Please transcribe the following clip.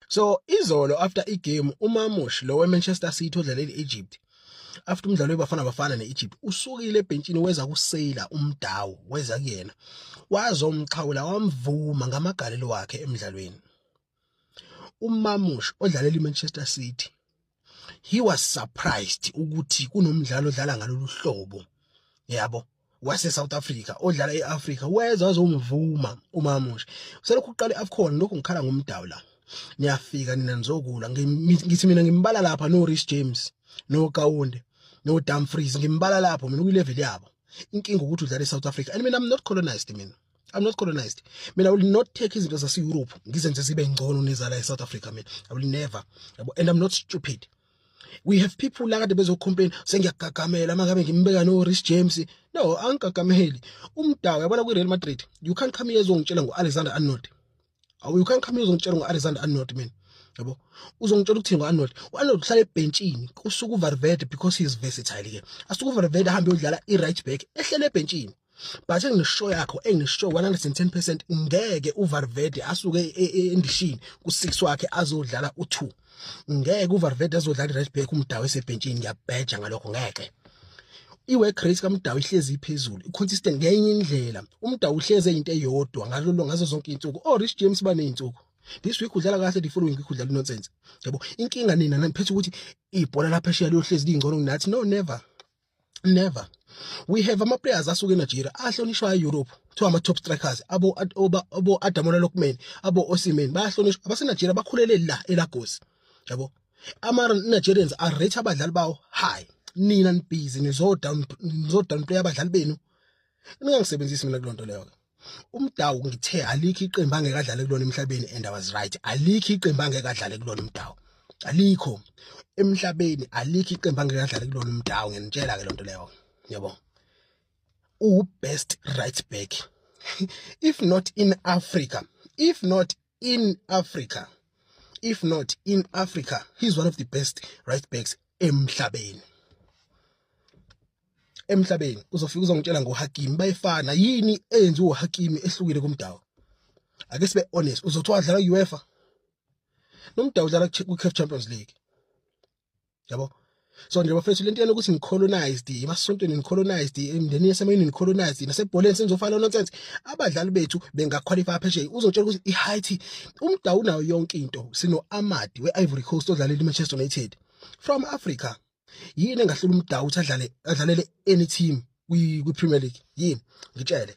so izolo after igame umamush lo wemanchester city odlalela i-egypt after umdlalo webafana bafana ne-egypt usukile ebhentshini weza kuseyila umdawu weza kuyena wazomxhawula wamvuma ngamagalelo wakhe emdlalweni umamush odlalela i-manchester city he was surprised ukuthi kunomdlalo odlala ngalolu hlobo yabo wase South Africa odlala eAfrica weza wazomvuma umamusha selokhu uqala iAfcon lokhu ngikhala ngomdawu la niyafika nina nizokula ngithi mina ngimbala lapha no Rich James no Kaunde no Dumfries ngimbala lapho mina kuyilevel yabo inkinga ukuthi udlala eSouth Africa and mina I'm not colonized mina I'm not colonized. Mina I will not take izinto zase Europe ngizenze zibe ngcono nezala e South Africa mina. I will never. And I'm not stupid. We have people la kade bezocomplain sengiyagagamela mangabe ngimbeka no Rich James. No, angigagameli. Umdawu yabona kwi Real Madrid. You can't come here ezongitshela ngo Alexander Arnold. awu you can't come uzongitshela ngo-alexander arnold mina yabo uzongitshela ukuthini ngo-arnold u-arnold uhlala ebhentshini kusuke uvarvede because he is versatile ke asuke uvarvede ahambe yodlala i-right back ehlele ebhentshini but engisho yakho engisho 110 percent ngeke uvarvede asuke e, e, endishini ku-six wakhe azodlala u-two ngeke uVarverde azodlala i-right back umdawu esebhentshini ngiyabheja ngalokho ngeke i-work rate kamdawu ihlezi iphezulu i-consistent ngenye indlela umdawu uhlezi eyinto eyodwa ngalolo ngazo zonke iy'nsuku orich oh, james baney'nsuku this week udlala kahle the following week udlala unonsense yabo inkinga nina naniphetha ukuthi ibhola laphesheya liyohlezi liyingcono kunathi no never never we have ama players asuke eNigeria ahlonishwa eEurope kuthiwa ama top strikers abo abo Adamola Lokman abo Osimhen bayahlonishwa abase Nigeria bakhulele la eLagos yabo ama Nigerians are rate abadlali bawo high nina nibhizi nizo down nizo down play abadlali benu ningangisebenzisi mina kulonto leyo ke umdawu ngithe alikho iqembu angeke adlale kulona emhlabeni and i was right alikho iqembu angeke adlale kulona umdawu alikho emhlabeni alikho iqembu angeke adlale kulona umdawu nginitshela ke lonto leyo yabo u best right back if not in africa if not in africa if not in africa he's one of the best right backs emhlabeni emhlabeni uzofika uzongitshela ngoHakimi bayefana yini eyenziwa uHakimi ehlukile kumdawu ake sibe honest uzothi wadlala UEFA nomdawu udlala kwiCAF Champions League yabo so nje bafethu lento yena ukuthi nicolonized emasontweni nicolonized emndenini yasemayini nicolonized nasebholeni senizofana nonsense abadlali bethu bengaqualify phesheya uzotshela ukuthi iHaiti umdawu nayo yonke into sino Amadi weIvory Coast odlalela iManchester United from Africa yini engahlela umdawu ukuthi adlale adlalele any team kwi Premier League yini ngitshele